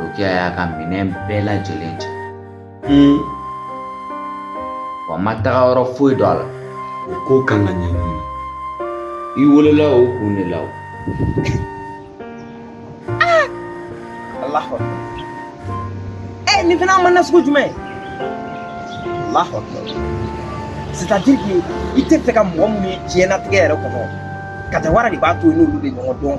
Rokiya y'a ka minɛn bɛɛ lajɛlen cɛ wa n ma taga yɔrɔ foyi dɔn a la o ko kan ka ɲɛɲini i welela o kun de la o Allahu Akbar Eh, nin fana maana sugu jumɛn Allahu Akbar c'est-à-dire que i t'a fɛ ka mɔgɔ minnu ye diɲɛnatigɛ yɛrɛ kɔnɔ kajawara de b'a to i n'olu de ɲɔgɔn dɔn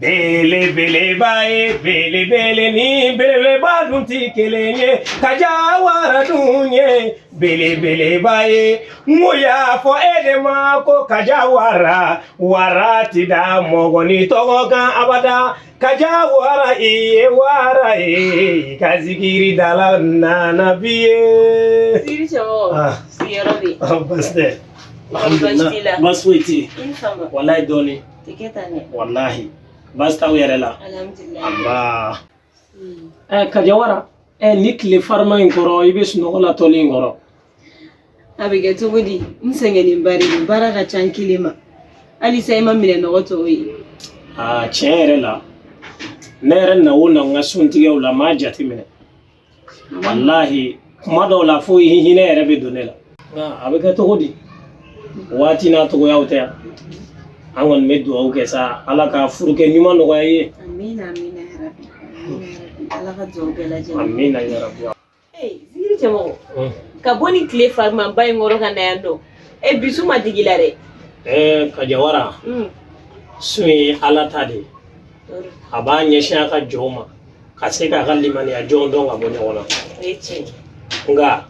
Belebeleba ye belebele ni beleba dun tɛ kelen ye kajawara dun ye belebeleba ye mun y'a fɔ e de ma ko kajawara wara tɛ da mɔgɔnin tɔgɔ kan abada kajawara i ye wara ye ka zikiri dala nana bi ye. Zikiri cɛmɔgɔ Ah. sigiyɔrɔ bɛ yen. Basi tɛ. Basi t'i la. Basi foyi tɛ yen. I ni sɔgɔma. Walayi dɔɔnin. wallahi basi t'aw yɛrɛ la anba hmm. eh, kajawara eh, nin tile farima in kɔrɔ i bɛ sunɔgɔ la tɔli in kɔrɔ a bɛ kɛ cogo di n sɛgɛnnen ba de don baara ka ca n kelen ma halisa i ma minɛn nɔgɔ tɔw ye ah, tiɲɛ yɛrɛ la ne yɛrɛ na o na n ka suntigɛw la n m'a jateminɛ walahi kuma dɔw la fo i hinɛ yɛrɛ bɛ don ne la a bɛ kɛ cogo di waati n'a cogoyaw tɛ yan an kɔni bɛ dugawu kɛ sa ala ka furukɛ ɲuman nɔgɔya i ye amina yarabi zikiri cɛmɔgɔ ka bɔ nin tile farimaba in kɔrɔ ka na yan dɔn e bi sun ma digi i la dɛ ɛɛ kajawara sun ye ala ta de ye a b'a ɲɛsin a ka jɔnw ma ka se k'a ka limaniya jɔnw dɔn ka bɔ ɲɔgɔn na nka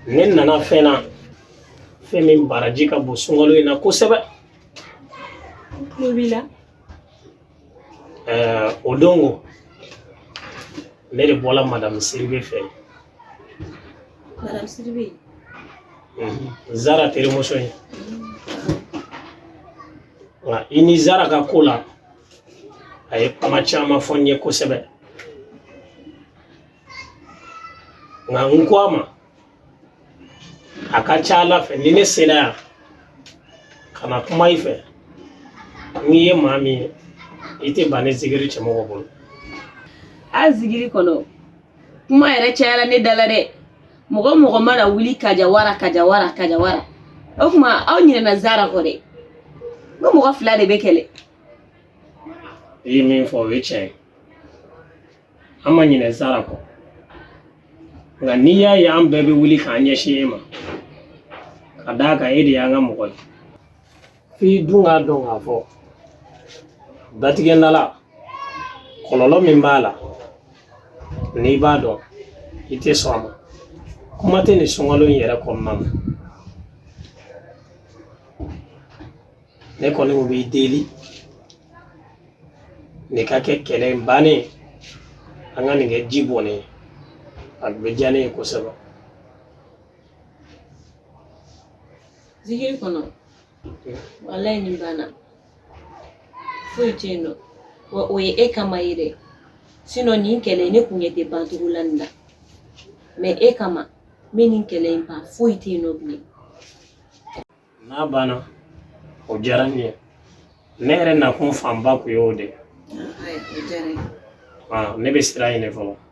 ne nana fɛn na fɛn min baraji ka bon sunkalo in na kosɛbɛ o don ko ne de bɔra madamu siribe fɛ madamu siribe zara terimuso ye Nka i ni zara ka ko la a ye kuma caman fɔ n ye kosɛbɛ nka n ko a ma a ka ca ala fɛ ni ne sera yan ka na kuma i fɛ n'i ye maa min ye i tɛ ban ne zikiri cɛmɔgɔ bolo a zikiri kɔnɔ kuma yɛrɛ cayala ne da la dɛ mɔgɔ mɔgɔ mana wuli kajawara kajawara kajawara o tuma aw ɲinɛna zara kɔ dɛ n ko mɔgɔ fila de bɛ kɛlɛ i ye min fɔ o ye tiɲɛ ye an ma ɲinɛ zara kɔ nka n'i y'a ye an bɛɛ bɛ wuli k'an ɲɛsin e ma ka d'a kan e de y'an ka mɔgɔ ye f'i dun k'a dɔn k'a fɔ datigɛndala kɔlɔlɔ min b'a la n'i b'a dɔn i tɛ sɔn a ma kuma tɛ nin sunkalo in yɛrɛ kɔnɔna na ne kɔni n b'i deli nin ka kɛ kɛlɛ in bannen an ka nin kɛ ji bɔnnen a bɛ diya ne ye kosɛbɛ Zikiri kɔnɔ walayi nin banna foyi tɛ yen nɔ wa o ye e kama ye dɛ sinɔn nin kɛlɛ ne kun ɲɛ tɛ bancogo la nin na mɛ e kama n bɛ nin kɛlɛ in ban foyi tɛ yen nɔ bilen n'a banna o diyara n ye ne yɛrɛ nakun fanba kun ye o de ye ne bɛ sira ɲini fɔlɔ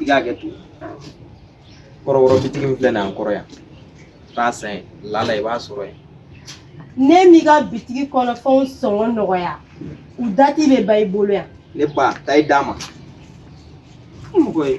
i k'a kɛ ten kɔrɔkɔrɔ bitigi min filɛ nin ye an kɔrɔ yan taa san yen lala i b'a sɔrɔ yen n'e m'i ka bitigi kɔnɔ fɛnw sɔngɔ nɔgɔya u dati bɛ ban i bolo yan ne ba taa i d'a ma mɔgɔ ye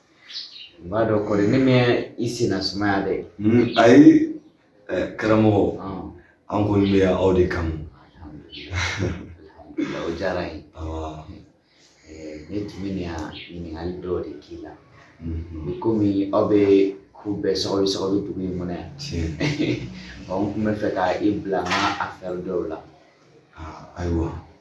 B'a dɔn kɔni ne ma i senna sumaya dɛ ayi karamɔgɔ an kɔni bɛ yan aw de kama o diyara n ye ne tun bɛ na ɲininkali dɔw de k'i la i komi aw bɛ ko bɛɛ sɔgɔbɛ sɔgɔbɛ dugu in kɔnɔ yan n tun bɛ fɛ ka i bila n ka afɛri dɔw la ayiwa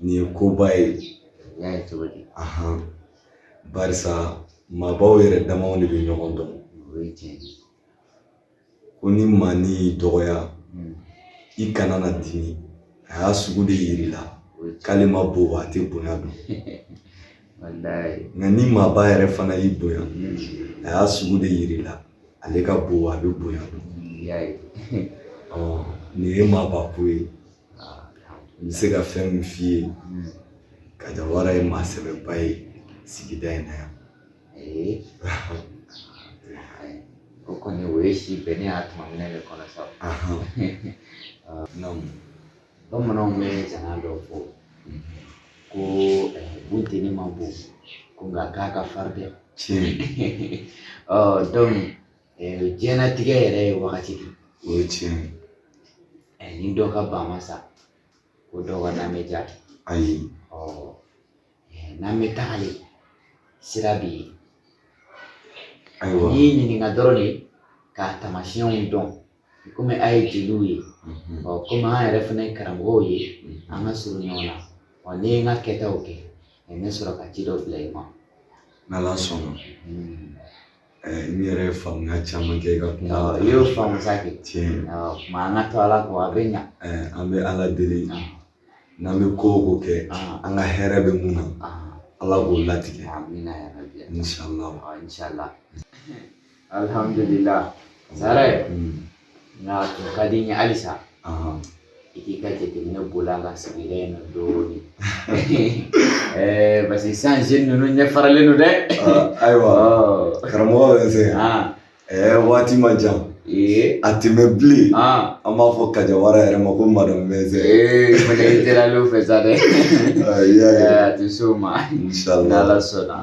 nin ye koba ye y'a ye cogo di ahan barisa maabaw yɛrɛ damaw de bɛ ɲɔgɔn dɔn o ye tiɲɛ ye ko ni maanin y'i dɔgɔya Mm. i kana na dimi a y'a sugu de yir'i la o ye tiɲɛ k'ale ma bon a tɛ bonya dɔn walayi nka ni maaba yɛrɛ fana y'i bonya Mm. a y'a sugu de yir'i la ale ka bon a bɛ bonya dɔn y'a ye Ɔ, nin ye maaba ko ye N bɛ se ka fɛn min f'i ye ka Jawara ye maa sɛbɛba ye sigida in na yan o kɔni o ye si bɛn ne y'a tuma minɛ de kɔnɔ sa bamananw bɛ jana dɔ fɔ ko bunteni ma bon ko nka k'a ka farin dɛ tiɲɛ diɲɛnatigɛ yɛrɛ ye wagati de o ye tiɲɛ ye ni dɔ ka ba ma sa ko dɔ ka na tɛ diya ayi n'an bɛ tagale sira bɛ yen ayiwa n'i y'i ɲininka dɔrɔn de k'a tamasiyɛnw dɔn komi a ye jeliw ye ɔ komi an yɛrɛ fana ye karamɔgɔw ye an ka surun ɲɔgɔn na ɔ ni n ye n ka kɛtaw kɛ n bɛ sɔrɔ ka ci dɔ bila i ma n'ala sɔnna n yɛrɛ ye faamuya caman kɛ i ka kuma la i y'o faamu sa kɛ tiɲɛ tuma an ka to ala kɔ a bɛ ɲa an bɛ ala deli n'an bɛ ko o ko kɛ an ka hɛrɛ bɛ mun na ala k'o latigɛ amina ya rabbi inshallah inshallah alhamdulillah sara nka tun ka di n ye halisa i k'i ka jateminɛ boli an ka sigida in na dɔɔnin parce que san ninnu ɲɛ faralen don dɛ ayiwa karamɔgɔ bɛ n sɛgɛn Ɛɛ waati man jan a tɛ mɛɛn bilen an b'a fɔ kajawara yɛrɛ ma ko madame mɛsɛn tɛlen fɛ sa dɛ a tɛ se o ma ala sɔnna